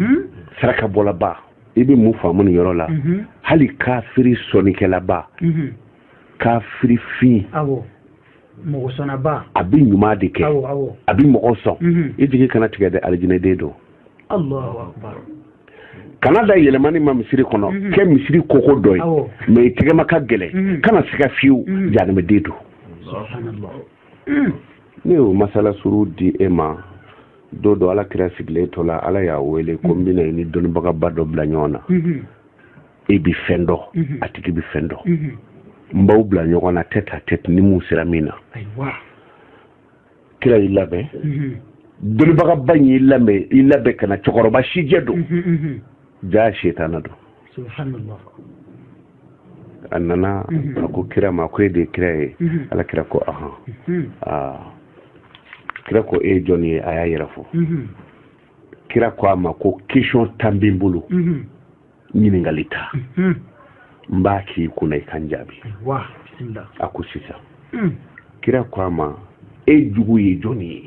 Hmm? saraka bɔlaba i bɛ mun faamu nin yɔrɔ la mhm. hali kafiri sɔnnikɛlaba mhm. kafiri fin mɔgɔ sɔnnaba a bɛ ɲuman de kɛ a bɛ mɔgɔ sɔn mhm. i jigi kana tigɛ dɛ alijinɛden don Allahu akbar kana da yɛlɛmani ma misiri kɔnɔ mhm. kɛ misiri koko dɔ ye mais i tɛgɛma ka gɛlɛn mhm. kana siga fiyewu janimɛden don ne y'o masala surun di e ma don dɔ ala kira sigilen tola ala y'a wele ko n bɛna i ni dɔnnibagaba dɔ bila ɲɔgɔn na e bɛ fɛn dɔn mhm. a tigi bɛ fɛn dɔn mhm. n b'aw bila ɲɔgɔn na tête à tête ni mun sera min na kira y'i labɛn mhm. dɔnnibagaba in y'i labɛn ka na cɛkɔrɔba sijɛ don jaa setana don subhanallah a nana a ko kira ma ko e de ye kira ye ala kira ko ahan ah. kira ko e ye jɔn ye a y'a yɛrɛ fɔ kira ko a ma ko question tan bɛ n bolo ɲininkali tan mhm. n b'a k'i kunna i ka n jaabi a ko sisan mhm. kira ko a ma e jugu ye jɔni ye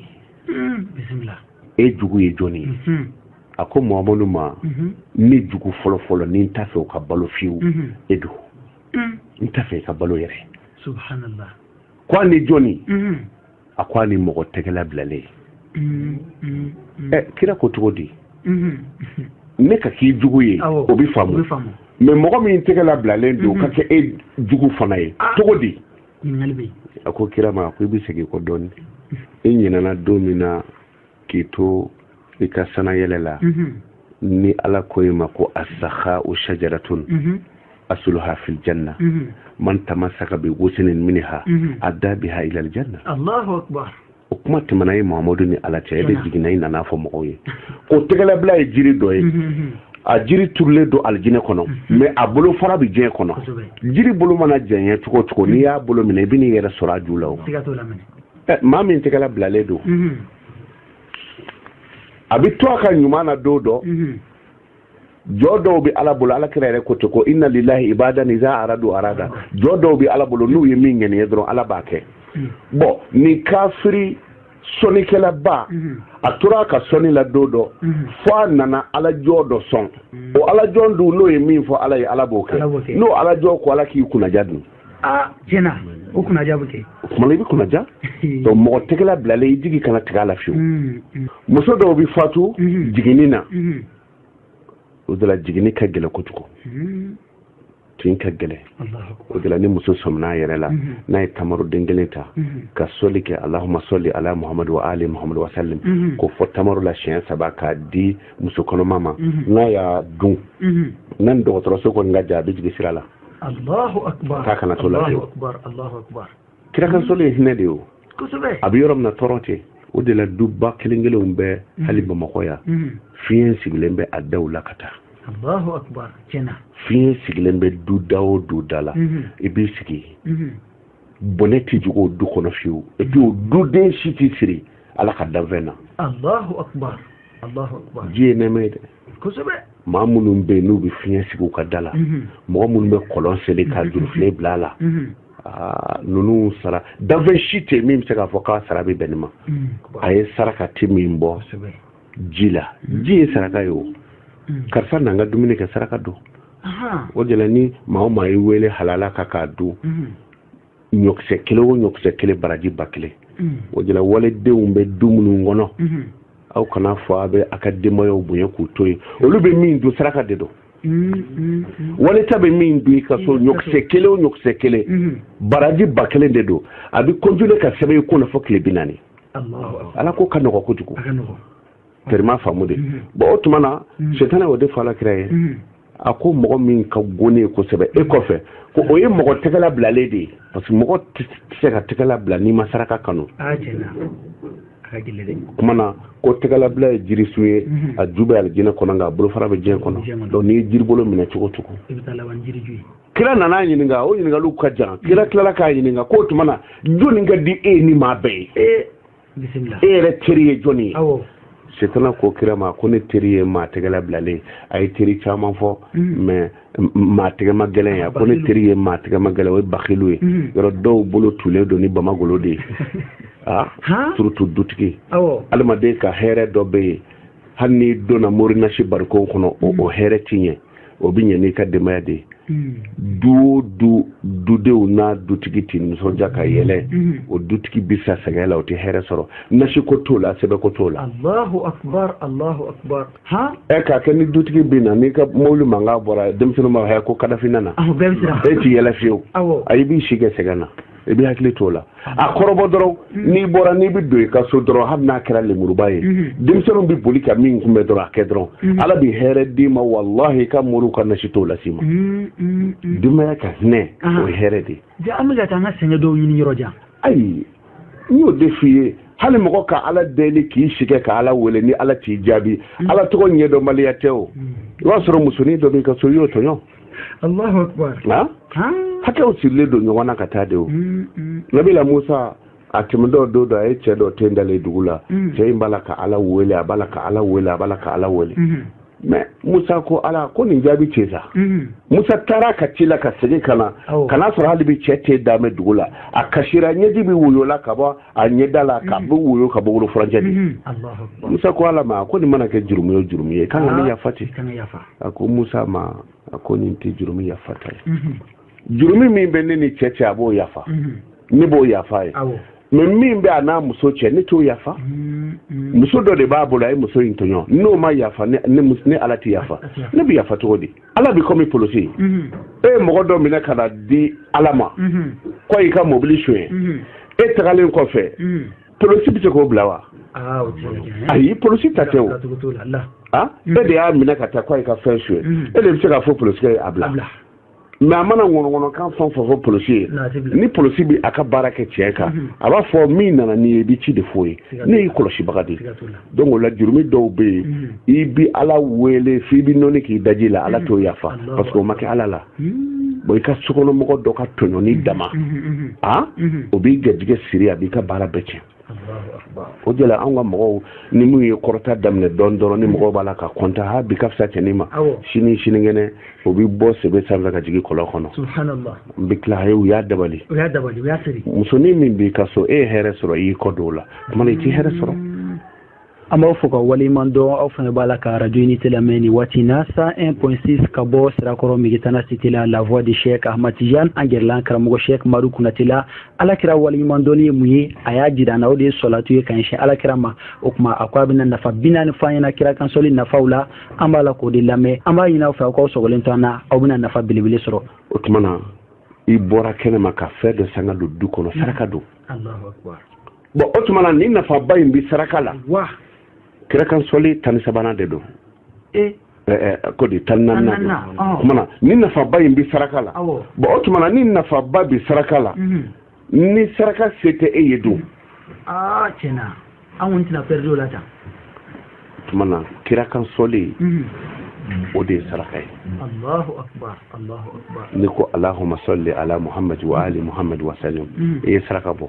mhm. e jugu ye jɔni ye a ko mahamadu ma ne jugu fɔlɔfɔlɔ ni n t'a fɛ o ka balo fiyewu e don n t'a fɛ i ka balo yɛrɛ subhanallah ko ani jɔni a ko ani mɔgɔ tɛgɛ labilalen ɛ kira ko cogo di ne ka k'i jugu ye o bɛ faamu mais mɔgɔ min tɛgɛ labilalen don ka kɛ e jugu fana ye cogo di a ko kira ma ko i bɛ segin kɔ dɔɔnin e ɲinɛna don min na k'i to i ka sannayɛlɛ la mhm. ni ala ko i ma ko as-sakha'u shajaratun mhm. asluha fil janna mhm. man tamassaka bi ghusnin minha adda biha ilal janna Allahu akbar o kuma tɛmɛna ye mahamadu ni ala cɛ e bɛ jigin na i nan'a fɔ mɔgɔw ye ko tɛgɛlabila ye jiri dɔ ye a jiri turulen don alijinɛ kɔnɔ mhm. mais a bolofara bɛ diɲɛ kɔnɔ jiri bolo mana jɛɲɛ cogo cogo n'i y'a bolo minɛ i bɛn'i yɛrɛ sɔrɔ a ju la o maa min tɛgɛ labilalen don a bɛ to a ka ɲuman na don dɔ jɔn dɔw bɛ ala bolo ala kira yɛrɛ ko ten ko inna lillahi ibadan iza aradu arada jɔn dɔw bɛ ala bolo n'u ye min ŋaniye dɔrɔn ala b'a kɛ bon nin kafiri sɔnnikɛlaba a tora a ka sɔnni la don dɔ fo a nana alajɔn dɔ sɔn o alajɔn dun n'o ye min fɔ ala ye ala b'o kɛ n'o alajɔn ko ala k'i kunnaja dun aa tiɲɛ na o kunnaja bɛ kɛ o kuma na i bɛ kunnaja donc mɔgɔ tɛgɛla bilalen i jigi kana tigɛ a la fiyewu mm, mm. muso dɔw bɛ fatu mm-hmm. jiginni na mm-hmm. o de la jiginni ka gɛlɛ kojugu mm-hmm. tin ka gɛlɛ o de la ni muso sɔminna a yɛrɛ la n'a ye tamaruden kelen ta ka sɔli kɛ alahuma sɔli ala muhamadu wa ali muhamadu wa salim k'o fɔ tamaru la siɲɛ saba k'a di muso kɔnɔma ma n'a y'a dun n'a ni dɔgɔtɔrɔso kɔni ka jan a bɛ jigin sira la Allahu akbar k'a kana to la Allahu akbar Allahu akbar kira ka sɔli ye hinɛ de ye o kosɛbɛ a bɛ yɔrɔ min na tɔɔrɔ tɛ o de la duba kelen kelenw bɛ mhm. hali bamakɔ yan mhm. fiɲɛ sigilen bɛ a daw la ka taa Allahu akbar tiɲɛ na fiɲɛ sigilen bɛ du da o du da la mhm. i b'i sigi bɔnɛ tɛ jigin o du kɔnɔ fiyewu et puis o duden si tɛ siri ala ka danfɛn na Allahu akbar Allahu akbar ji ye nɛɛma ye dɛ maa minnu bɛ yen n'u bɛ fiɲɛ sigi u ka da la mɔgɔ minnu bɛ kɔlɔn seli ka jurufilen bila a la ninnu sara danfɛn si tɛ min bɛ se k'a fɔ k'a sara bɛ bɛn nin ma a ye saraka tɛ min bɔ ji la ji ye saraka ye o karisa n'an ka dumuni kɛ saraka don o de la ni maa o maa y'i wele halala ka k'a dun ɲɔkisɛ kelen o ɲɔkisɛ kelen baraji ba kelen mm. o de la walidenw bɛ du minnu kɔnɔ mm-hmm. aw kana a fɔ a bɛ a ka denbayaw bonya k'u to yen olu bɛ min dun saraka de don mm-hmm. walita bɛ min dun i ka so ɲɔkisɛ kelen o ɲɔkisɛ kelen mm-hmm. baraji ba kelen de don a bɛ continuer ka sɛbɛn i kun na fo tile bi naani ala ko ka nɔgɔ kojugu terima faamu de bon o tuma na setana o de fɔ alakira ye a ko mɔgɔ min ka go ne kosɛbɛ e kɔfɛ ko o ye mɔgɔ tɛgɛla bilalen de ye parce que mɔgɔ tɛ se ka tɛgɛla bila n'i ma saraka kanu kuma na ko tɛgɛlabila ye jirisun ye mhm. a ju bɛ alijinɛ kɔnɔ nka a bolofara bɛ diɲɛ kɔnɔ donc n'i ye jiribolo minɛ cogo o cogo kira nana ɲininka o ɲininkaliw ka jan kira tilala k'a ɲininka k'o tuma na jɔnni ka di e ni maa bɛɛ ye e yɛrɛ teri ye jɔnni ye setana ko kira ma ko ne teri ye maa tɛgɛla bilalen ye a ye teri caman fɔ mm. mais maa tɛgɛma gɛlɛn ye a ko ne teri ye maa tɛgɛma gɛlɛn o ye bakilu ye mm. yɔrɔ dɔw bolo tulen don ni bamagolo de ye a ah, surtout dutigi adamaden ka hɛrɛ dɔ bɛ yen hali n'i donna mori nasi barikon kɔnɔ o o mm. hɛrɛ ti ɲɛ o bɛ ɲɛ n'i ka denbaya de ye mm. du o du dudenw n'a dutigi ti nisɔndiya ka yɛlɛ mm. o dutigi bɛ sa sɛgɛn la o tɛ hɛrɛ sɔrɔ nasi ko t'o la sɛbɛn ko t'o la. alahu akubar alahu akubar. han. ɛ k'a kɛ ni dutigi bɛ na n'i ka mobili mankan bɔra denmisɛnninw b'a fɔ ko kadafi nana. awɔ bɛɛ bɛ siran. e ti yɛlɛ fiyewu. awɔ. ayi i b'i si kɛ sɛgɛn na. i bɛ hakili t'o la a kɔrɔbɔ dɔrɔn n'i bɔra n'i bɛ don i ka so dɔrɔn hali n'a kɛra lemuruba ye denmisɛnninw bɛ boli ka min kunbɛn dɔrɔn a kɛ dɔrɔn ala bɛ hɛrɛ d'i ma walahi i ka mori ka nasi t'o lase i ma denbaya ka hinɛ o ye hɛrɛ de ye an bɛ ka taa an ka sɛgɛn dɔw ɲini yɔrɔ jan ayi n y'o de f'i ye hali mɔgɔ ka ala deli k'i si kɛ ka ala wele ni ala t'i jaabi ala tɔgɔ ɲɛdɔnbaliya tɛ o i b'a sɔrɔ musonin dɔ b'i ka so i y'o tɔɲɔ hakɛw sirilen don ɲɔgɔn na ka taa de o mm, mm. nabila musa a tɛmɛtɔ don dɔ a ye cɛ dɔ ten dalen dugu la mm. cɛ in b'a la ka ala wele a b'a la ka ala wele a b'a la ka ala wele mm-hmm. mɛ musa ko ala ko nin jaabi cɛ sa mm-hmm. musa taara ka ci la ka segin ka na ka n'a sɔrɔ hali bi cɛ ten dalen dugu la a kasira ɲɛji bɛ woyo la ka bɔ a ɲɛda la ka mm-hmm. bɛ woyo ka bɔ wolofuranjɛ de musa ko ala ma ko nin mana kɛ jurumu ye jurumu ye kan ka ne ah, yafa ten a ko musa ma a ko nin tɛ jurumi yafata ye mhm. jurumi min bɛ ne ni cɛ cɛ a b'o yafa mhm. ne b'o yafa a ye mɛ min bɛ a n'a muso cɛ ne t'o yafa mhm. muso dɔ de b'a bolo a ye muso in tɔɲɔ n'o ma yafa ne ala tɛ yafa ne bɛ yafa cogo di ala bɛ kɔmi polosi ye e ye mɔgɔ dɔ minɛ ka n'a di ala ma k'o y'i ka mobili sonya e tagalen kɔfɛ polosi bɛ se k'o bila wa ah, ayi polosi ta tɛ o ah, mm. e de y'a minɛ ka taa k'a y'i ka fɛn suye mm. e de bɛ se k'a fɔ polosi ye a bila mɛ a mana ŋɔnɔŋɔnɔkan fɛn fɛn fɔ polosi ye ni polosi bɛ a ka baara kɛ tiɲɛ kan mm-hmm. a b'a fɔ min nana n'i ye i bɛ ci de f'o ye ne y'i kɔlɔsibaga de ye donc o la jurumi dɔw bɛ yen mm-hmm. i bɛ ala wele f'i bɛ nɔni k'i daji la ala mm-hmm. t'o yafa parce que o ma kɛ ala la Hmm. bon i ka sokɔnɔmɔgɔ dɔ ka tɔɲɔni hmm. dama hmm. a ah? o b'i garijɛgɛ siri a b'i ka baara bɛɛ tiɲɛ o jɛla anw ka mɔgɔw ni minnu ye kɔrɔta daminɛ dɔɔni dɔrɔn ni mɔgɔw b'a la ka kɔnta ha bi ka fisa cɛnin ma sini sinikɛnɛ o bɛ bɔ sebe sanfɛ ka jigin kɔlɔn kɔnɔ n bɛ tila ye u y'a dabali musonin min b'i ka so e ye hɛrɛ sɔrɔ i y'i kɔ don o la tuma i tɛ hɛrɛ sɔrɔ an b'aw fo ka waleɲuman dɔn aw fana b'a la ka radio unité lamɛn nin waati na 101.6 ka bɔ sirakɔrɔ megitana cité la la voix de cheikh ahmad tijan an gɛrɛla karamɔgɔ cheikh maru kunate la alakira waleɲuman dɔnni ye mun ye a y'a jira na o de ye salatu ye ka ɲɛsin alakira ma o tuma a ko a bɛna nafa binaani fɔ an ɲɛna kira kan sɔli nafaw la an b'a la k'o de lamɛn an b'a ɲini aw fɛ aw k'aw sɔgɔlen to an na aw bɛna nafa belebele sɔrɔ o tuma na i bɔra kɛnɛ ma ka fɛn dɔ san k'a don du kɔnɔ saraka don bɔn o tuma na ni nafaba in bɛ saraka la wa kira kan sɔli tan ni sabanan de don e ko di tan naani don o tuma na ni nafaba in bɛ saraka la bɔn o tuma na ni nafaba bɛ saraka la ni saraka se tɛ e ye dun aa tiɲɛ na an kɔni tɛna pɛridi o la tan tuma na kira kan sɔli o de ye saraka ye n'i ko alahuma sɔli ala muhamadu wa ali muhamadu wa salim i ye saraka bɔ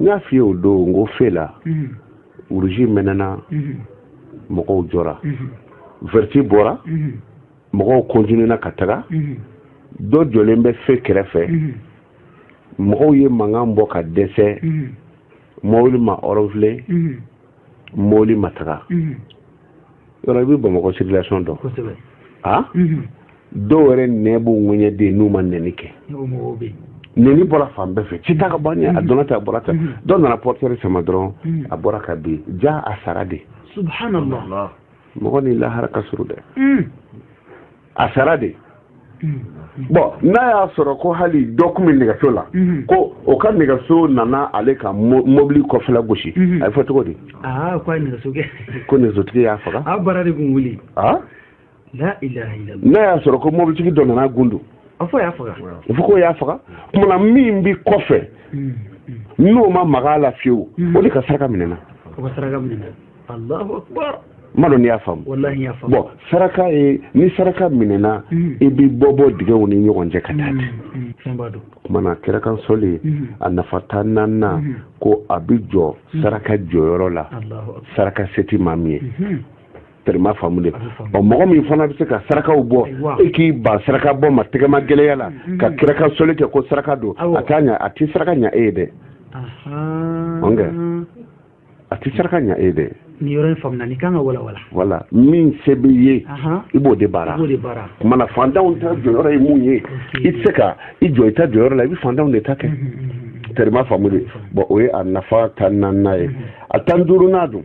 n y'a f'i ye o don n ko fe la wuruji mɛnɛna mɔgɔw jɔra vɛriti bɔra mɔgɔw kɔntinena ka taga dɔ jɔlen bɛ fe kɛrɛfɛ mɔgɔw ye mankan bɔ ka dɛsɛ mɔbili ma ɔrɔnfile mɔbili ma taga yɔrɔ i bɛ bamakɔ circulation dɔn a dɔw yɛrɛ nɛn b'u ŋɛɲɛ de n'u ma nɛni kɛ nɛni bɔra fan bɛɛ fɛ ci ta ka bɔ ɲɛ a mm-hmm. donna ta a bɔra ta mm-hmm. dɔ nana pɔrtɛri sama dɔrɔn mm-hmm. a bɔra ka bin jaa a sara de mɔgɔ ni lahara ka surun dɛ mm. a sara de mm. bɔn n'a y'a sɔrɔ ko hali dɔ kun bɛ nɛgɛso la ko o ka nɛgɛso nana ale ka mobili kɔfɛla gosi a bɛ fɔ cogo di ah, ko nɛgɛsotigi y'a faga n'a y'a sɔrɔ ko mobilitigi dɔ nana gundu a fɔ y'a faga a fɔ k'o y'a faga kumana min bi kɔfɛ hmm, hmm. n'o ma maga a la fiyewu hmm. o de ka saraka minɛna o ka saraka minɛna alahu akbar n m'a dɔn n'i y'a faamu walahi y'a faamu bɔn saraka ye ni saraka minɛna i bi bɔ bɔ dingɛw ni ɲɔgɔn cɛ ka taa ten fɛn b'a dɔn kumana kira kan sɔli a nafa tan naaninan ko a bi jɔ saraka jɔyɔrɔ la saraka se ti maa min ye tɛrɛma faamu de ɔ mɔgɔ min fana bɛ se ka sarakaw bɔ e k'i ban saraka bɔ ma tɛgɛmagɛlɛya la mm-hmm. ka kira kan sɔli kɛ ko saraka don a t'a ɲa a tɛ saraka ɲa e ye dɛ ɔn kɛ a tɛ saraka ɲa e ye dɛ nin yɔrɔ in faamuna nin kan ka walawala wala min se b'i ye i b'o de baara kuma na fantanw ta jɔyɔrɔ ye mun ye i tɛ se ka i jɔ i ta jɔyɔrɔ la i bɛ fantanw de ta kɛ mm-hmm. tɛrɛma faamu de bɔn o ye a nafa tan naaninan ye a tan duurunan dun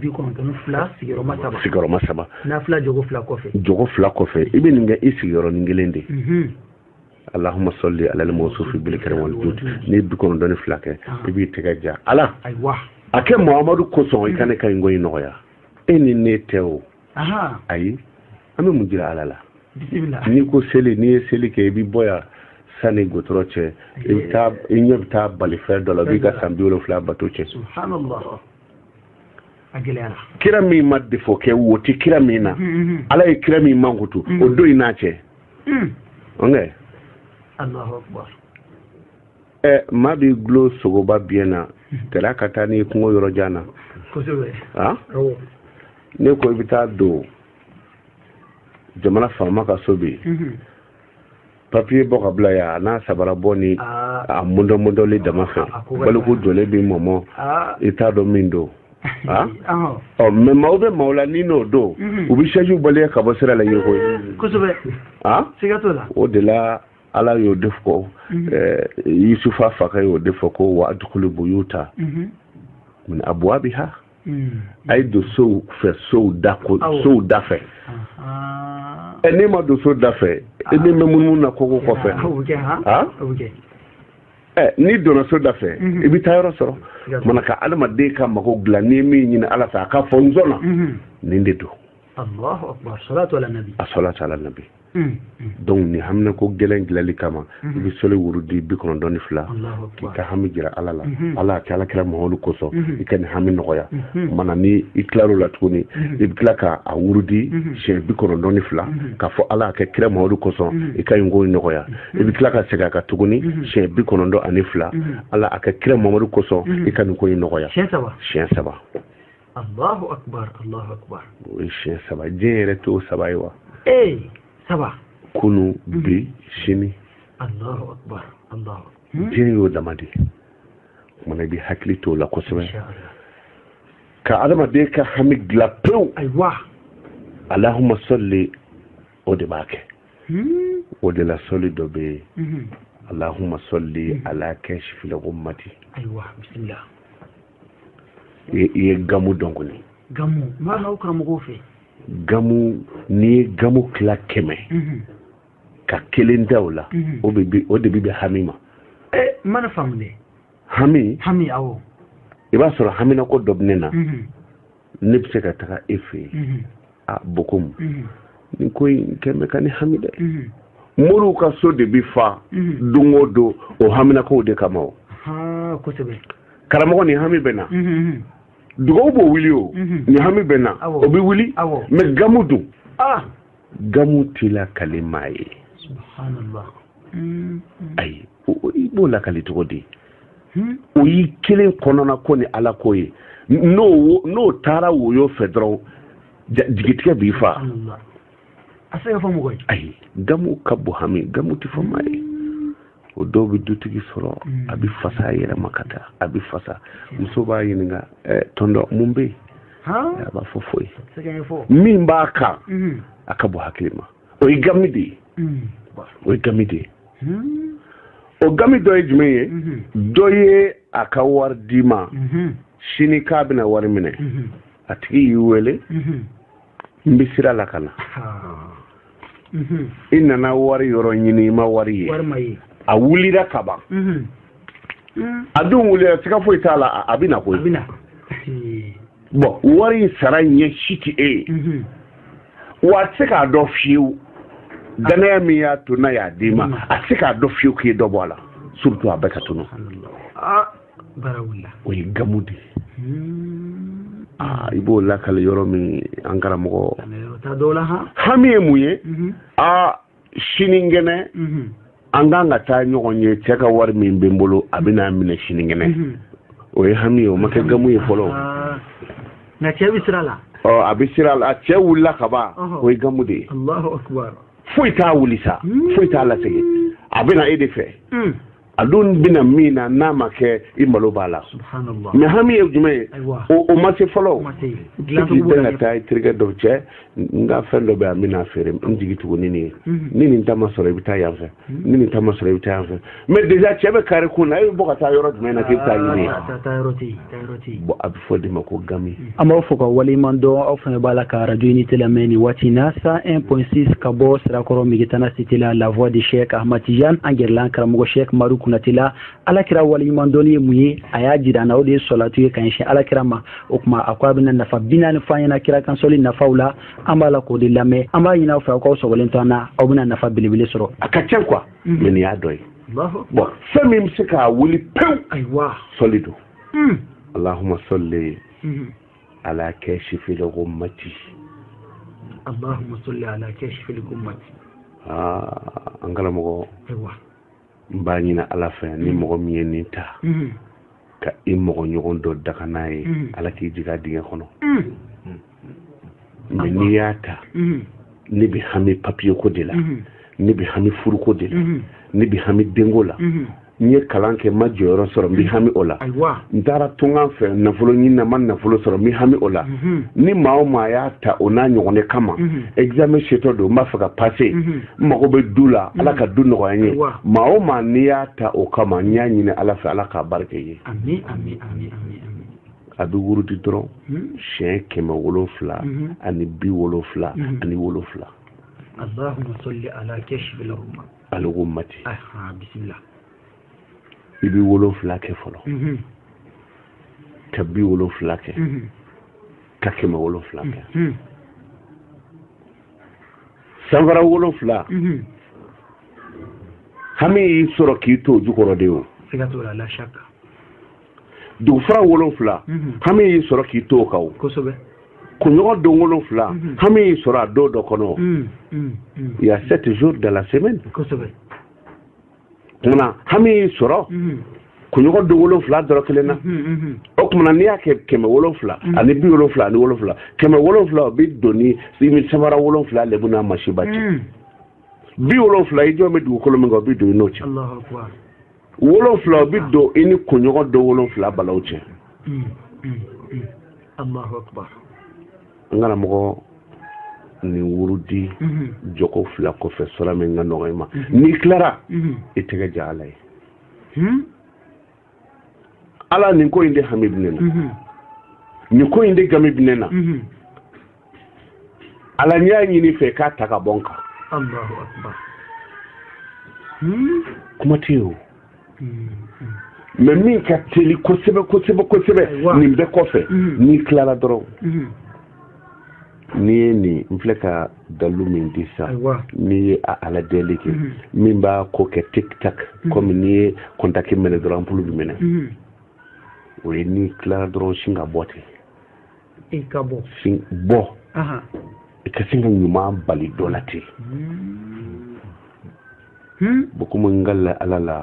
bi kɔnɔntɔn fila sigiyɔrɔma saba sigiyɔrɔma saba nafila jɔko fila kɔfɛ jɔko fila kɔfɛ i bɛ nin kɛ i sigiyɔrɔnin kelen de mhm. alahuma sɔli alali mɔsufi bilikɛrɛmi wali judi n'i ye bi kɔnɔntɔn ni fila kɛ ah. i b'i tɛgɛ jan ala ayiwa a kɛ muhamadu kosɔn i ka ne ka nin ko in nɔgɔya e ni ne tɛ o ayi an bɛ mun jira ala la n'i ko seli n'i ye seli kɛ i bɛ bɔ yan sani gotɔrɔ cɛ i bɛ taa i ɲɛ bɛ taa balifɛn dɔ la b'i ka san bi wolonfila bato cɛn kira min ma defo kɛ wo tɛ kira min na mm-hmm, mm-hmm. ala ye kira min mankutu mm-hmm. o don i n'a cɛ mm. ɛ maa b'i dulon sogoba biɲɛ na tila ka taa n'i kungo yɔrɔ jan na ah? ne ko i bɛ taa don jamana faama ka so bi mhm. papiye bɔ ka bila yan a n'a sabara bɔ ni ah. a mundɔmundɔli dama fɛ baliku jɔlen b'i mɔmɔ ah. i t'a dɔn min don Ah? Ah. ɔ mɛ maaw bɛ maaw la ni n'o don mhm. u bɛ sɛjiw balayer ka bɔ sira la ye koyi kosɛbɛ ah? siga t'o la o de la ala y'o de fɔ mhm. eh, yusufa fakɛ y'o de fɔ ko wa adukulu buyuta mhm. min abuwabiha mhm. a ye don sow fɛ sow da ko sow da fɛ ɛ n'e ma don so da fɛ e na mɛn munumunu na koko kɔfɛ ɛ n'i donna so da fɛ i bɛ taayɔrɔ sɔrɔ mana ka adamaden ka mago dilan n'i ye min ɲini ala fɛ a ka fɔ n sɔnna nin de don asɔlatu ala nabi Mm, mm. donc ni haminako gɛlɛn dilali kama mm-hmm. i bɛ sɔli wurudi bi kɔnɔntɔn ni fila k'i ka hami jira ala la mm-hmm. ala a kɛ ala kira mamadu kosɔn mm-hmm. i ka nin hami nɔgɔya mana ni i tilar'o la tuguni i bɛ tila ka a wurudi siɲɛ bi kɔnɔntɔn ni fila k'a fɔ ala a kɛ kira mamadu kosɔn i ka nin ko in nɔgɔya i bɛ tila ka segin a kan tuguni siɲɛ bi kɔnɔntɔn ani fila ala a kɛ kira mamadu kosɔn i ka nin ko in nɔgɔya siɲɛ saba Allahu akbar Allahu akbar o ye siɲɛ saba diɲɛ yɛrɛ t'o saba ye wa ee saba kunu mhm. bi sini Allahu akbar Allahu hmm? diɲɛ y'o dama de ye o mana i b'i hakili t'o la kosɛbɛ ka adamaden ka hami dilan pewu ayiwa alahuma sɔli o de b'a kɛ hmm? o de la sɔli dɔ bɛ yen mhm. alahuma sɔli mhm. ala kasifili gumati ayiwa bisimila i ye gamu dɔn kɔni gamu mana aw karamɔgɔw fɛ gamu n'i ye gamu tila kɛmɛ mhm. ka kelen da o la mhm. o de bɛ bɛn hami ma eh, n mana faamu dɛ hami hami awɔ i b'a sɔrɔ haminako dɔ bɛ ne na mhm. ne bɛ se ka taga e fɛ yen a bokomu nin ko in kɔni bɛ ka ne hami dɛ moriw ka so de bɛ fa don o don o haminakow de kama o karamɔgɔ nin hami bɛ na dugawu b'o wuli o nin hami bɛ na o bɛ wuli mɛ gamu dun gamu tɛ lakali maa ye ayi i b'o lakali cogo di hmm? o y'i kelen kɔnɔna ko ni ala ko ye n'o n'o taara woyo fɛ dɔrɔn jigitigɛ b'i fa a tɛ se ka fɔ mɔgɔ ye ayi gamu ka bon hami gamu tɛ fɔ maa ye o dɔw bɛ dutigi sɔrɔ a bɛ fasa a yɛrɛ ma ka taa a bɛ fasa muso b'a ɲininka tɔntɔn mun bɛ yen a b'a fɔ foyi min b'a kan a ka bon hakili ma o ye gami de ye o ye gami de ye o gami dɔ ye jumɛn ye dɔ ye a ka wari d'i ma sini k'a bɛna wari minɛ a tigi y'i wele n bɛ sira la ka na i nana wari yɔrɔ ɲini i ma wari ye a wulira ka ban a dun wulira siga foyi t'a la a bɛ na koyi bɔn wari in sara ɲɛ si tɛ e ye wa a tɛ se k'a dɔn fiyewu dannaya min y'a to n'a y'a d'i ma a tɛ se k'a dɔn fiyewu k'i ye dɔ bɔ a la surtout a bɛɛ ka tunu o ye gamu de ye aa i b'o lakali yɔrɔ min an karamɔgɔ hami ye mun ye aa sinikɛnɛ mhm. an kan ka taa ɲɔgɔn ye cɛ ka wari min bɛ n bolo a bɛ n'a minɛ sinikɛnɛ mhm. o ye hami ye o ma kɛ gamu ye fɔlɔ ah. nka cɛ bɛ sira la ɔ a bɛ sira la cɛ wulila ka ban o ye gamu de ye alahu akibaru foyi t'a wuli sa hmm. foyi t'a lasegin a bɛ na e de fɛ hmm. a dun bɛ na min na n'a ma kɛ i malo b'a la mɛ hami ye jumɛn ye o ma se fɔlɔ k'i bɛn ka taa i terikɛ dɔ cɛ n ka fɛn dɔ bɛ yan n bɛn'a feere n jigi tugu ni nin ye mhm. ni nin ta ma sɔrɔ i bɛ taa yan fɛ mhm. ni nin ta ma sɔrɔ i bɛ taa yan fɛ mɛ déjà cɛ bɛ kare kun na e bɛ bɔ ka taa yɔrɔ jumɛn na k'i bɛ t'a ɲini bɔn a bɛ f'o de ma ko gami mm. an b'aw fo k'aw waleɲuman dɔn aw fana b'a la ka radio unité lamɛn nin waati na 101.6 ka bɔ sirakɔrɔ megetana site la la voix de chek ahmad tijan an gɛrɛla an karamɔgɔ chek maru kunate la ala kira waleɲuman dɔnni ye mun ye a y'a jira na o de ye sɔlatu ye ka ɲɛsin ala kira ma o tuma a ko a bɛna nafa bi naani fɔ an ɲɛna kira kan sɔli nafaw la an b'a la k'o de lamɛn an b'a ɲini aw fɛ aw k'aw sɔgɔlen to an na aw bɛna nafa belebele sɔrɔ a ka ca quoi mm. nin y'a dɔ ye bɔn fɛn min bɛ se k'a wuli pewu ayiwa sɔli don mm. alahuma sɔli mm-hmm. ala kasifili gumati alahuma sɔli ala kasifili gumati an karamɔgɔ ayiwa n b'a ɲini ala fɛ ni mm-hmm. mɔgɔ min ye nin ta mm-hmm. ka i mɔgɔ ɲɔgɔn dɔ danga n'a ye mm. ala k'i jigin dingɛ kɔnɔ mm. Mm. mɛ n'i y'a ta ne bɛ hami papiye ko de la mm-hmm. ne bɛ hami furuko de la mm-hmm. ne bɛ hami denko la mm-hmm. n ye kalan kɛ n ma jɔyɔrɔ sɔrɔ n bɛ hami o la n taara tunkan fɛ nafolo ɲini na n ma nafolo sɔrɔ n bɛ hami o la ni maa o maa y'a ta o n'a ɲɔgɔnne kama examen setɔ don n b'a fɛ ka pase mago bɛ du la ala ka du nɔgɔya n ye maa o maa n'i y'a ta o kama n y'a ɲini ala fɛ ala k'a barika ye a bɛ wurudi dɔrɔn hmm? siɲɛ kɛmɛ wolonfila hmm. ani bi wolonfila hmm. ani wolonfila ali gumati i bɛ wolonfila kɛ fɔlɔ ka bi wolonfila kɛ ka kɛmɛ wolonfila kɛ sanfara wolonfila mhm. hami y'i sɔrɔ k'i to jukɔrɔ de o dugufara wolonfila mhm. hami y'i sɔrɔ k'i to o kan o kunɲɔgɔn don wolonfila mhm. hami y'i sɔrɔ a don dɔ kɔnɔ il y a sept jours de la semaine munna hami y'i sɔrɔ kunɲɔgɔn don wolonfila dɔrɔn kelen na o kuma na n'i y'a kɛ kɛmɛ wolonfila ani bi wolonfila ani wolonfila kɛmɛ wolonfila o bi don i ni sanfara wolonfila lebu n'a masiba cɛ bi wolonfila i jɔlen bɛ dugukolo min kan o bi don i n'o cɛ wolonfila o bi don i ni kunɲɔgɔn don wolonfila balaw cɛ n kana mɔgɔ nin wurudi mhm. jɔko fila kɔfɛ sura min ka nɔgɔ i ma mhm. n'i tilara mhm. i tɛgɛ ja ala ye hmm? ala nin ko in de hami bɛ ne na nin ko in de gami bɛ ne na ala n y'a ɲini i fɛ k'a ta ka bɔ n kan hmm? kuma tɛ yen o mɛ min ka teli kosɛbɛ kosɛbɛ kosɛbɛ nin bɛɛ kɔfɛ mm-hmm. n'i tilara dɔrɔn mm-hmm. n'i ye nin n filɛ ka dalilu min di sa n'i ye a ala deli kɛ mm-hmm. min b'a ko kɛ tik tak kɔmi n'i ye kɔntaki mɛnɛ dɔrɔn anpulu bi mɛnɛ o ye n'i tilara dɔrɔn sin ka bɔ ten i ka bɔ sin bɔ i ka sin ka ɲuman bali dɔ la ten bɔn komi ngala ala la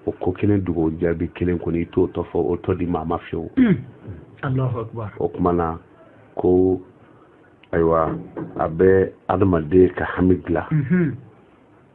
o ko kelen dugawu jaabi kelen kɔni i t'o tɔ fɔ o tɔ di maa ma fiyewu o kuma na ko ayiwa a bɛ adamaden ka hami dilan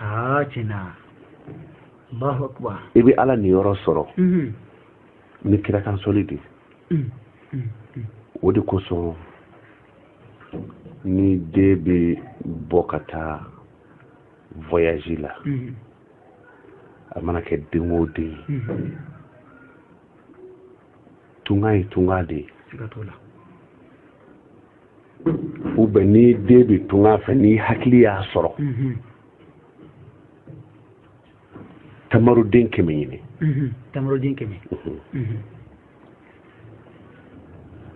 aa tiɲɛ na i bɛ ala niyɔrɔ sɔrɔ ni kira kan sɔli de o de kosɔn ni den bɛ bɔ ka taa voyage la a mana kɛ den o den ye tunga ye tunga de ye ou bien ni den bɛ tunga fɛ n'i hakili y'a sɔrɔ mhm. tamaruden kɛmɛ ɲini mhm. tamaruden kɛmɛ mhm.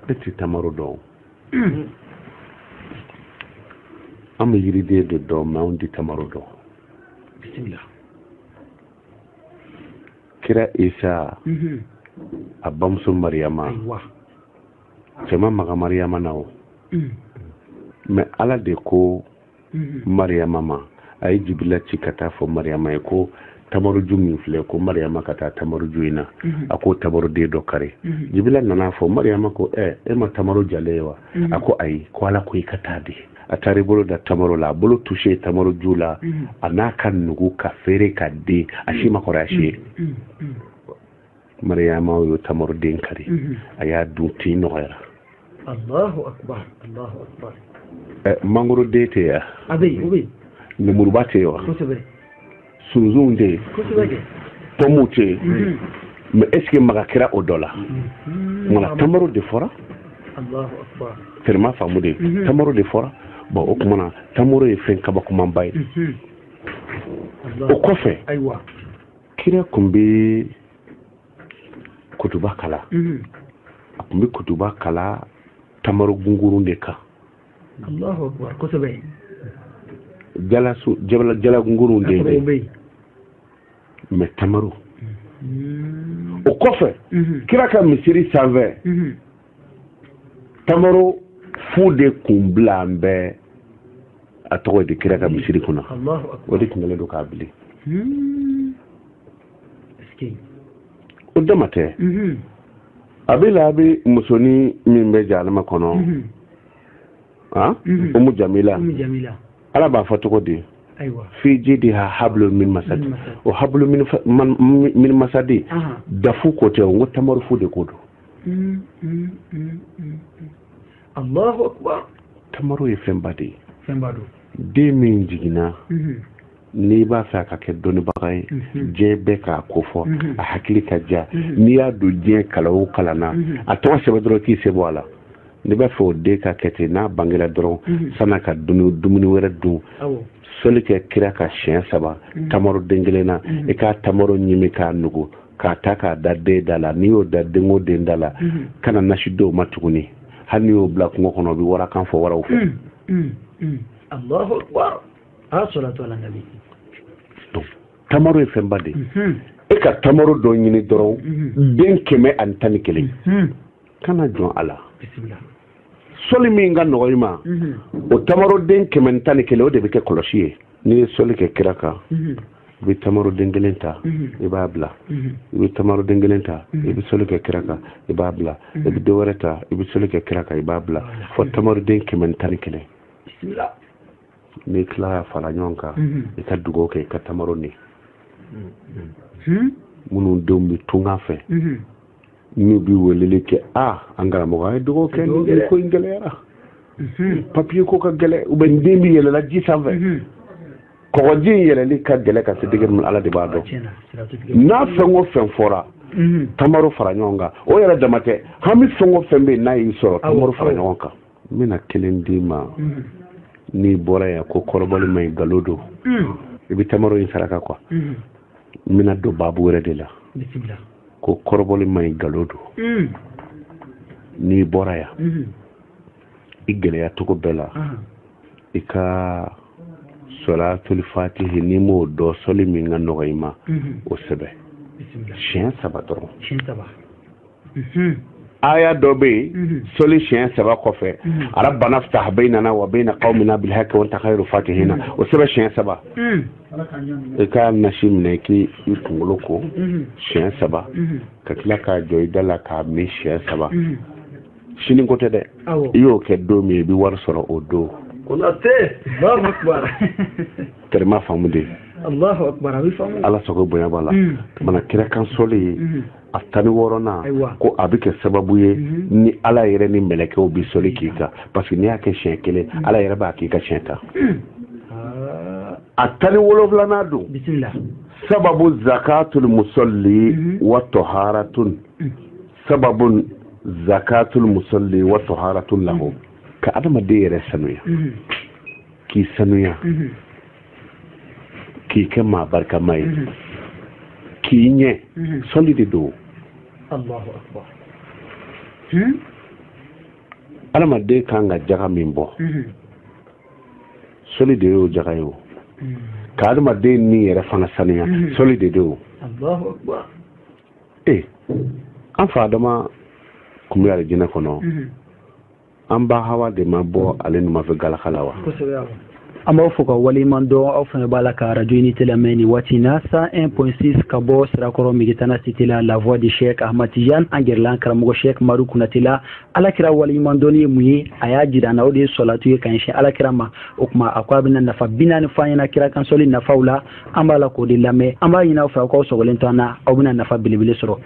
e ti tamaro dɔn an bɛ yiriden de dɔn mɛ anw ti tamaro dɔn kira isa a bamuso mariyama cɛ ma maga mariyama na o mm. mais ala de ko mm-hmm. mariyama ma a ye jibila ci ka taa fɔ mariyama ye ko tamaruju min filɛ ko mariyama ka taa tamaruju in na mhm. a ko tamaruden dɔ kari mhm. jibila nana fɔ mariyama ko ɛ eh, e ma tamaro jalen ye wa mhm. a ko ayi ko ala ko i ka taa dɛ a taara i bolo da tamaro la a bolo touché tamaro ju la a n'a ka nugu ka feere ka den a si ma kɔrɔ a si ye mariyama y'o tamaru den kari mhm. a y'a dun tin nɔgɔyara alahu akbar alahu akbar eh, mangoro den tɛ yan a bɛ yen o bɛ yen lemuruba tɛ yen wa kosɛbɛ sunsunw tɛ yen kosɛbɛ kɛ pɔmuw tɛ yen mhm. mais est ce que maga kɛra o dɔ la mhm. wala tamaru de fɔra alahu akbar tellement faamu de tamaru de fɔra bon o kuma na tamaru ye fɛn kabakomanba ye o kɔfɛ ayiwa kira kun bɛ kutuba kala mhm. a kun bɛ kutuba kala tamaro gungurun de kan jala gungurun de bɛ mais tamaro mhm. o kɔfɛ mhm. kira ka misiri sanfɛ tamaro fu de kun bilalen bɛ a tɔgɔ di kira ka misiri kunna o de tun kɛlen don k'a bili hmm. o dama tɛ mhm. abu lahabi musonin min bɛ jahanama kɔnɔ mhm. ah? mhm. umu jamila ala b'a fɔ cogo di fi jidi ha hablu min masadi o hablu min masadi dafu ko tɛ o n ko tamarufu de ko don Mm, mm, mm, Allahu akbar tamaro ye fɛnba de ye fɛnba don den min jiginna mm-hmm. n'i b'a fɛ a ka kɛ dɔnnibaga ye mm-hmm. diɲɛ bɛɛ k'a ko fɔ mm-hmm. a hakili ka diya n'i y'a don diɲɛ kalan o kalan na a tɔgɔ sɛbɛn dɔrɔn k'i sen bɔ a la n'i b'a fɛ o den ka kɛ ten n'a bangera dɔrɔn san'a ka dumuni wɛrɛ dun soli kɛ kira ka siɲɛ saba tamaro den kelen na i ka tamaro ɲimi k'a nugu k'a ta k'a da den da la n'i y'o da den o den da la mhm. kana nasi d'o ma tuguni hali n'i y'o bila kungo kɔnɔ o bɛ wara kan fɔ waraw fɛ. Mm, mm, mm. Alahu akbar salatu ala nabi. donc tamaro ye fɛnba de ye. Mhm. e ka tamaro dɔ ɲini dɔrɔn mhm. den kɛmɛ ani tan ni kelen kana jɔn a la. soli min ka nɔgɔ i ma mhm. o tamaroden kɛmɛ ni tan ni kelen o de bɛ kɛ kɔlɔsi ye n'i ye soli kɛ kira kan mhm. i bɛ tamaroden kelen ta mhm. i b'a bila i bɛ tamaroden kelen ta i bɛ soli kɛ kira kan i b'a bila i bɛ dɔ wɛrɛ ta i bɛ soli kɛ kira kan i b'a bila fo tamaroden kɛmɛ ni tan ni kelen n'i tila y'a fara ɲɔgɔn kan mhm. i ka dugawu kɛ i ka tamaro ni minnu denw bɛ tunga fɛ n'u bɛ weleli kɛ a an karamɔgɔ a ye dugawu kɛ nin ko in gɛlɛyara papiye ko ka gɛlɛ u bɛ n den bɛ yɛlɛla ji sanfɛ kɔgɔji in yɛlɛli ka gɛlɛ ka se degere min ala de b'a dɔn n'a fɛn o fɛn fɔra tamaro fara ɲɔgɔn kan o yɛrɛ dama tɛ hami fɛn o fɛn bɛ yen n'a y'i sɔrɔ tamaro fara ɲɔgɔn kan n bɛna kelen d'i ma mm-hmm. n'i bɔra yan ko kɔrɔbɔli ma ɲi nkalon don mm. i bɛ tamaro in saraka quoi mm-hmm. n bɛna don baabu wɛrɛ de la ko kɔrɔbɔli ma ɲi nkalon don mm. n'i bɔra yan mm-hmm. i gɛlɛya cogo bɛɛ la uh-huh. i ka sɔlatuli fatihi n'i m'o dɔn sɔli min ka nɔgɔ i ma o sɛbɛn siɲɛ saba dɔrɔn aya dɔ bɛ yen mhm. sɔli siɲɛ saba kɔfɛ mhm. rabbana ftah bainana wa baina qaumina bil haqqi wa anta khairu fatihina mhm. o sɛbɛn siɲɛ saba i ka nasi minɛ k'i kunkolo ko siɲɛ saba ka tila k'a jɔ i da la k'a min siɲɛ saba sini ko tɛ dɛ i y'o kɛ don min i bɛ wari sɔrɔ o don tɛrɛma faamu de ala sago bonya b'a la mana kira kan sɔli ye a tan ni wɔɔrɔnan ko a bɛ kɛ sababu ye mhm. ni ala yɛrɛ ni mɛlɛkɛw bɛ sɔli k'i kan parce que n'i y'a kɛ siɲɛ kelen mhm. ala yɛrɛ b'a k'i kan siɲɛ tan ah. a tan ni wolonwulanan don sababu zakatul musalli mhm. wa taharatun sababu zakatul musalli wa taharatun lahu ka adamaden yɛrɛ sanuya k'i sanuya k'i kɛ maa barikama ye mhm. k'i ɲɛ mhm. sɔli de don adamaden hmm? kan ka jaga min bɔ mhm. sɔli de y'o jaga ye o hmm. ka adamaden ni yɛrɛ fana sanuya sɔli de don o ee an fa adama kun bɛ alijinɛ kɔnɔ an ba hawa de ma bɔ ale numafɛ galaka la wa an b'aw fo ka waleɲuman dɔn aw fana b'a la ka radio unité lamɛn nin waati in na 101.6 ka bɔ sirakɔrɔ megetana cité la la voix de cheikh ahmad tijan an gɛrɛla an karamɔgɔ cheikh madu kunate la alakira waleɲuman dɔnni ye mun ye a y'a jira an na o de ye sɔlatu ye ka ɲɛsin alakira ma o tuma a ko a bɛna nafa bi naani fɔ an ɲɛna kira kansɔli nafaw la an b'a la k'o de lamɛn an b'a ɲini aw fɛ aw k'aw sɔgɔlen to an na aw bɛna nafa belebele sɔrɔ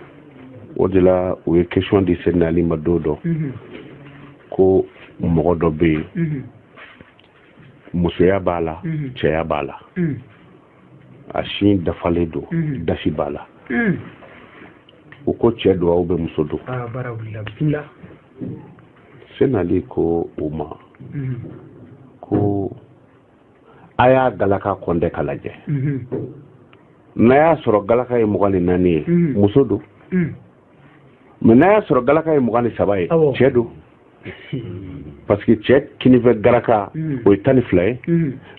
o de la u ye question di Seydina Ali ma don dɔ mhm. ko mɔgɔ dɔ bɛ yen mhm. musoya b'a la mhm. cɛya b'a la a sin dafalen don dasi b'a la u ko cɛ don ou bien muso don ah, Seydina Ali ko u ma ko a y'a galaka kɔntɛ ka lajɛ mhm. n'a y'a sɔrɔ galaka ye mugan ni naani ye mhm. muso don mhm. mais n'a y'a sɔrɔ galaka ye mugan ni saba ye cɛ don parce que cɛ kinifɛ galaka o ye tan ni fila ye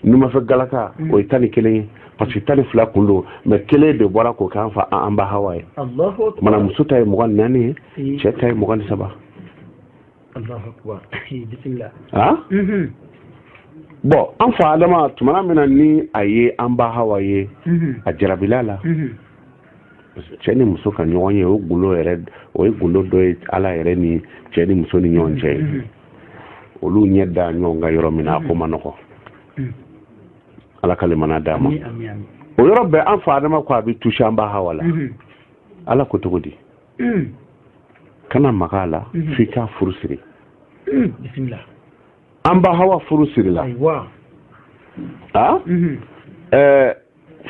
numafɛ galaka o ye tan ni kelen ye parce que tan ni fila kun don mais kelen de bɔra k'o k'an fa an ba hawa ye mana muso ta ye mugan ni naani ye cɛ ta ye mugan ni saba ah? mhm. bon an fa adama tumana min na ni a ye an ba hawa ye mhm. a jarabila la mhm. cɛ ni muso ka ɲɔgɔn ye o gundo yɛrɛ o ye gundo dɔ ye ala yɛrɛ ni cɛ ni muso ni ɲɔgɔn cɛ ye olu ɲɛ da ɲɔgɔn kan yɔrɔ min na a ko man nɔgɔ ala ka limana d'an ma o yɔrɔ bɛɛ an fa adama ko a bɛ toucher an ba hawa la ala ko cogo di mm. kana maga a la mm-hmm. f'i k'a furu siri mm, an ba hawa furu sirila a mm-hmm. eh,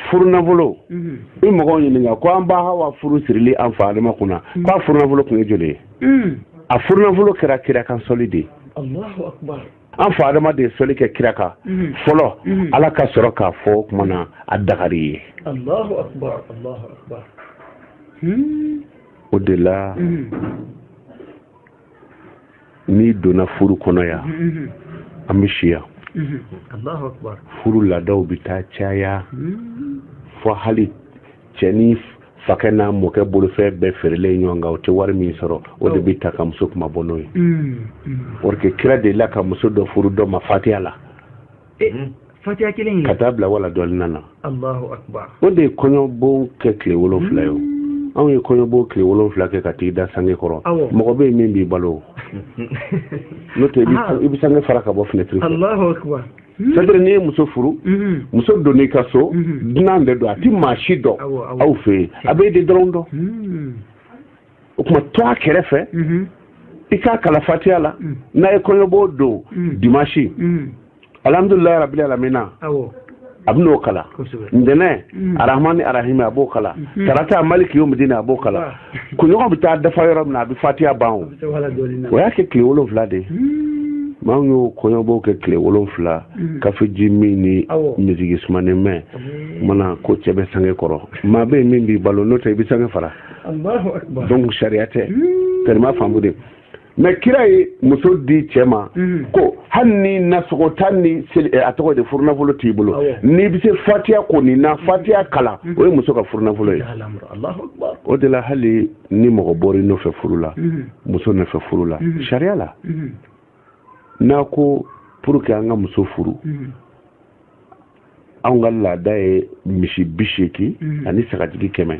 furu nafolo mm-hmm. i mɔgɔw ɲininka ko an ba hawa furu sirili an fa adama kunna mm. k'a furu nafolo tun ye joli ye a furu nafolo kɛra kira kan sɔli de ye an fa adama de ye sɔli kɛ kira kan mhm. fɔlɔ mhm. ala ka sɔrɔ k'a fɔ o tuma na a dagar'i ye hmm. o de la mhm. n'i donna furu kɔnɔ yan an bɛ si yan furu laadaw bɛ taa caya hmm. fo hali cɛnin fakɛ n'a mɔkɛ bolofɛn bɛɛ feerelen ɲɔgɔn kan o tɛ wari min sɔrɔ o de bɛ ta ka muso kunmabɔ n'o ye mm, mm. or que kira delila ka muso dɔ furu dɔ ma fatiya la eh, mm. fatiya kelen ka taa bila waladɔlina o de ye kɔɲɔbon kɛ tile wolonfila ye o anw ye kɔɲɔbon tile wolonfila kɛ ka t'i da sange kɔrɔ mɔgɔ bɛ yen min b'i balo n'o tɛ i bɛ sange fara ka bɔ finɛtiri fɛ c'est-à-dire n'i ye muso furu muso donn'i ka so dunan de don a ti maa si dɔn aw fɛ yen a b'e de dɔrɔn dɔn o tuma to a kɛrɛfɛ i k'a kalan fatiya la n'a ye kɔɲɔbon don dimasi alhamdulilayi rabili alamina a bɛn'o kalan ntɛnɛn arahmani arahimi a b'o kalan tarata maliki yomidini a b'o kalan kunɲɔgɔn bɛ taa dafa yɔrɔ min na a bɛ fatiya ban o o y'a kɛ tile wolonwula de ye maa min y'o kɔɲɔbɔw kɛ tile wolonwula hmm. kafeji min ni mizigi sumanen mɛn hmm. mana ko cɛ bɛ sange kɔrɔ maa bɛ yen min b'i balo n'o tɛ i bɛ sange fara donc sariya tɛ hmm. terima faamu de mais kira ye muso di cɛ ma mhm. ko hali ni nasɔngɔ tan ni eh, a tɔgɔ di furunafolo t'i bolo n'i bɛ se fatiya kɔni na mhm. fatiya kalan mhm. o ye muso ka furunafolo ye o de la hali ni mɔgɔ bɔra i nɔfɛ furu la muso nɔfɛ furu la sariya la n'a ko pour que an ka muso furu anw ka laada ye misi bi seegin ani sagajigi kɛmɛ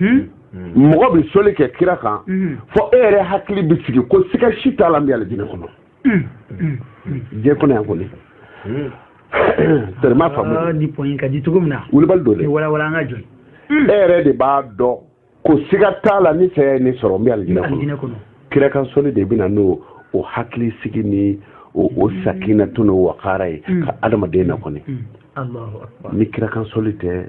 hmm? hmm. mɔgɔ bɛ sɔli kɛ kira kan hmm. fo e yɛrɛ hakili bɛ sigi ko siga si t'a la n bɛ alijinɛ kɔnɔ diɲɛ kɔnɔ yan kɔni terima faamu ah, nin point ka di cogo min na wulibali don dɛ walawala an ka jɔ e yɛrɛ de b'a dɔn ko siga t'a la ni saya ye ne sɔrɔ n bɛ alijinɛ kɔnɔ kira kan sɔli de bɛ na n'o hakili sigi ni o sakinatu n'o wakara ye ka adamaden na kɔni ni kira kan sɔli tɛ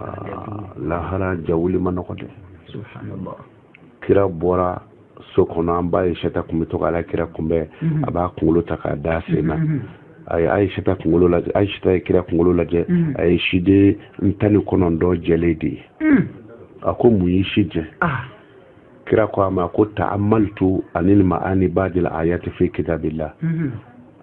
ah, lahara jawuli man nɔgɔ dɛ kira bɔra so kɔnɔ an ba ayisata kun bɛ to k'ala kira kunbɛn mhm. a b'a kunkolo ta k'a d'a sen na mhm. a ye ayisata kunkolo lajɛ ayisata ye kira kunkolo lajɛ mhm. a ye siden tan ni kɔnɔntɔn jɛlen de ye a ko mun y'i si jɛ ah. kira ko a ma ko ta'ammaltu anil ma'ani ba'dil ayati fi kitabillah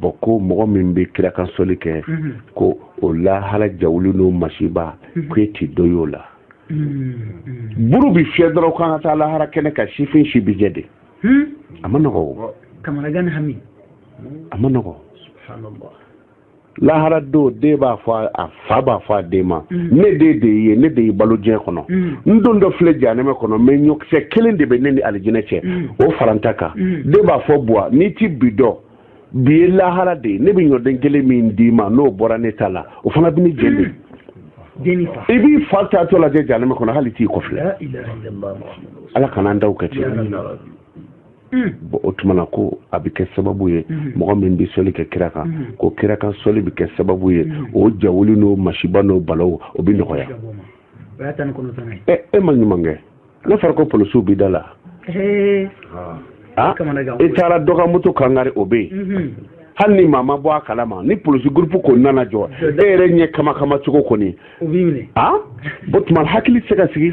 bon ko mɔgɔ min bɛ kira kan sɔli kɛ mhm. ko o lahala jawuli n'o masiba mhm. ko e tɛ dɔ y'o la mhm. buru bɛ fiyɛ dɔrɔn k'an ka taa lahara kɛnɛ kan sifin si bi jɛ de hmm? a man nɔgɔ o a man nɔgɔ lahara don den b'a fɔ a fa b'a fɔ a den ma mm. ne den de ye ne de y'i balo diɲɛ kɔnɔ mm. n dontɔ filɛ janɛmɛ kɔnɔ mais ɲɔkisɛ kelen de bɛ ne ni alijinɛ cɛ mm. o fara n ta kan den b'a fɔ buwa n'i ti bi dɔn bi ye lahara de ye ne bɛ ɲɔden kelen min d'i ma n'o bɔra ne ta la o fana bɛ ne jɛ de i b'i fa taatɔ lajɛ janɛmɛ kɔnɔ hali t'i kɔfilɛ ala kana an taw kɛ ten Mm. bon o tumana ko a bɛ kɛ sababu ye mm. mɔgɔ min bɛ sɔli kɛ kira kan mm. ko kira kan sɔli bɛ kɛ sababu ye o jawuli n'o masiba n'o balaw o bɛ nɔgɔya e ma ɲuman kɛ n'a fɔra ko polisiw b'i da la ah, i taara dɔgɔ moto kangari o bɛ yen mm-hmm. hali ni maa ma bɔ a kalama ni polisi gurupu kɔni nana jɔ e yɛrɛ ɲɛ kama kama cogo kɔni b'a to maa hakili tɛ se ka sigi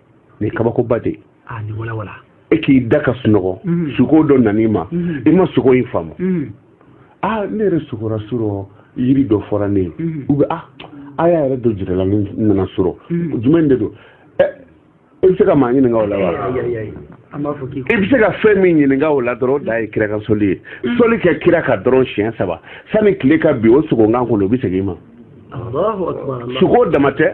nin ye kabakoba de ye wala e k'i da ka sunɔgɔ mhm. suko dɔ nan'i ma mhm. i ma suko in faamu mhm. aa ne yɛrɛ sukora surɔ yiri dɔ fɔra ne ye u bɛ ah a y'a yɛrɛ dɔ jirala ne nana surɔ jumɛn de don ɛ i bɛ se ka maa ɲininka o la wa i bɛ se ka fɛn min ɲininka o la dɔrɔn o de ye kira kan sɔli ye sɔli kɛ kira kan dɔrɔn siɲɛ saba sani tile ka bin o suko in kan kɔnɔ o bɛ segin i ma suko dama tɛ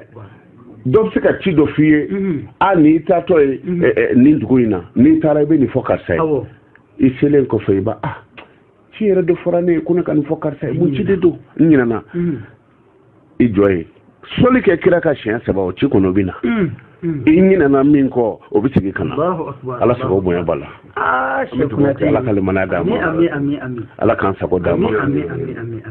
dɔ bɛ se ka ci dɔ f'i ye mhm. a n'i taatɔ ye mhm. eh, eh, nin dugu in na n'i taara i bɛ nin fɔ karisa ye i selen kɔfɛ i ba ah ci yɛrɛ dɔ fɔra ne ye ko ne ka nin fɔ karisa ye mun ci de don n ɲinɛna i jɔ ye sɔli kɛ kira kan siɲɛ saba o ci kɔnɔ bɛ na i ɲinɛna min kɔ o bɛ segin ka na ala sago bonya b'a la Ah, ala ka limaniya d'a ma ala k'an sago d'a ma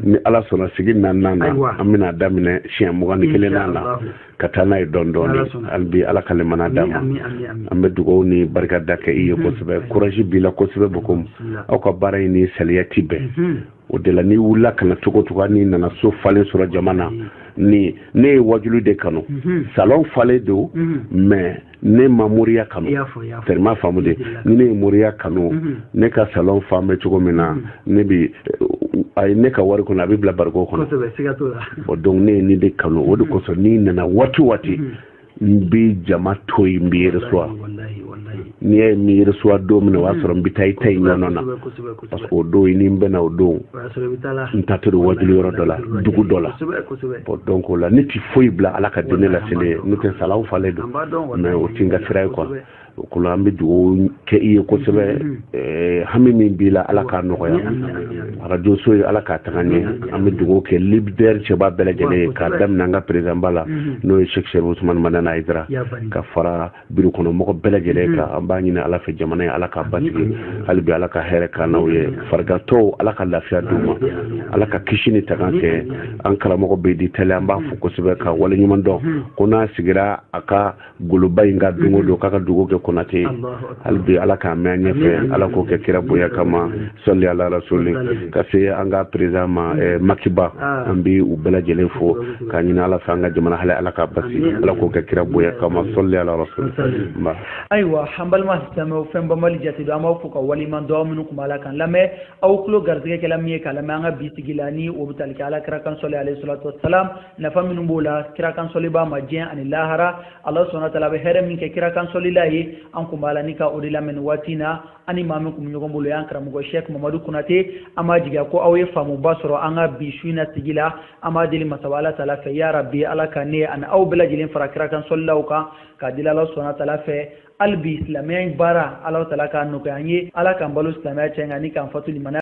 ni ala sɔnna sigi naani na an bɛna daminɛ siɲɛ mugan ni kelennan na ka taa n'a ye dɔɔnin dɔɔnin hali bi ala ka limaniya d'a ma an bɛ dugawu ni barika da kɛ i ye kosɛbɛ kuraji b'i la kosɛbɛ bon comme aw ka baara in ni saliya ti bɛn o de la n'i wulila ka na cogo cogo n'i nana so falen sɔrɔ jama na ni ne ye wajulu de kanu salon falen don mais ne ma moriya kanu tellement faamu de ni ne ye moriya kanu mhm. ne ka salon falen bɛ cogo min na mhm. ne bi ne ka wari kɔnɔ a bɛ bila bariko kɔnɔ bon donc ne ye nin de kanu o de mhm. kosɔn n'i nana waati waati n bɛ jama to yen n b'i reçoit n'i y'a ye n m'i reçoit don min na o y'a sɔrɔ n bɛ taa i ta in ɲɔgɔn na parce que o don ni n bɛna o don n taatɔ wajuli yɔrɔ dɔ la dugu dɔ la bon donc o la ne ti foyi bila ala ka diinɛ laseli ɲɛ n'o tɛ salon falen don mais o ti n ka sira ye quoi o ko la an bɛ dugawu kɛ i ye kosɛbɛ eh, hami min b'i la ala k'a nɔgɔya arajo so ye ala k'a taga ɲɛ an bɛ dugawu kɛ lidɛri cɛba bɛɛ lajɛlen ye k'a daminɛ an ka perezanba la n'o ye sɛki serifu usumani madani ayidara ka fara biro kɔnɔ mɔgɔ bɛɛ lajɛlen mm-hmm. kan an b'a ɲini ala fɛ jamana ye ala k'a basigi mm-hmm. hali bi ala ka hɛrɛ k'an n'aw ye mm-hmm. farigatɔw ala ka lafiya d'u ma ala ka kisi ni tanga kɛ an karamɔgɔ bɛ di tɛlɛ an b'a fo kosɛbɛ ka wale ɲuman dɔn ko n'a sigira a ka goloba in kan don o don k'a ka dugawu kɛ konate hali bi ala k'a mɛn an ɲɛfɛ ala k'o kɛ kira bonya kama sɔli ala rasuli ka se an ka perezan ma eh, maki ba ah. an bi u bɛɛ lajɛlen fo k'a ɲini ala fɛ an ka jamana hali ala k'a basi ala k'o kɛ kira bonya kama sɔli ala rasul nba ayiwa an balima silamɛw fɛn banbali jate don an b'aw fo ka waleɲuman dɔn minnu tun b'a la k'an lamɛn aw tulo garisɛgɛ kɛla min ye k'a lamɛn an ka bi sigi la ni o bɛ tali kɛ ala kira kan sɔli alayhi salatu wasalam nafa minnu b'o la kira kan sɔli b'a ma diɲɛ ani lahara ala sɔnna taala bɛ hɛrɛ min kɛ kira kan sɔlila ye an tun b'a la ni ka o de lamɛn nin waati in na an ni maa min tun bɛ ɲɔgɔn bolo y'an karamɔgɔ sɛk mamadu konate an b'a jigiya ko aw ye faamuba sɔrɔ an ka bi su in na sigi la an b'a deli masaba ala taala fɛ ya rabi ala ka ne ani aw bɛɛ lajɛlen fara kira kan sɔlilaw kan k'a deli ala sɔnna taala fɛ hali bi silamɛya in baara ala taala k'a nɔgɔya an ye ala k'an balo silamɛya cɛn kan ni k'an fatu limaniya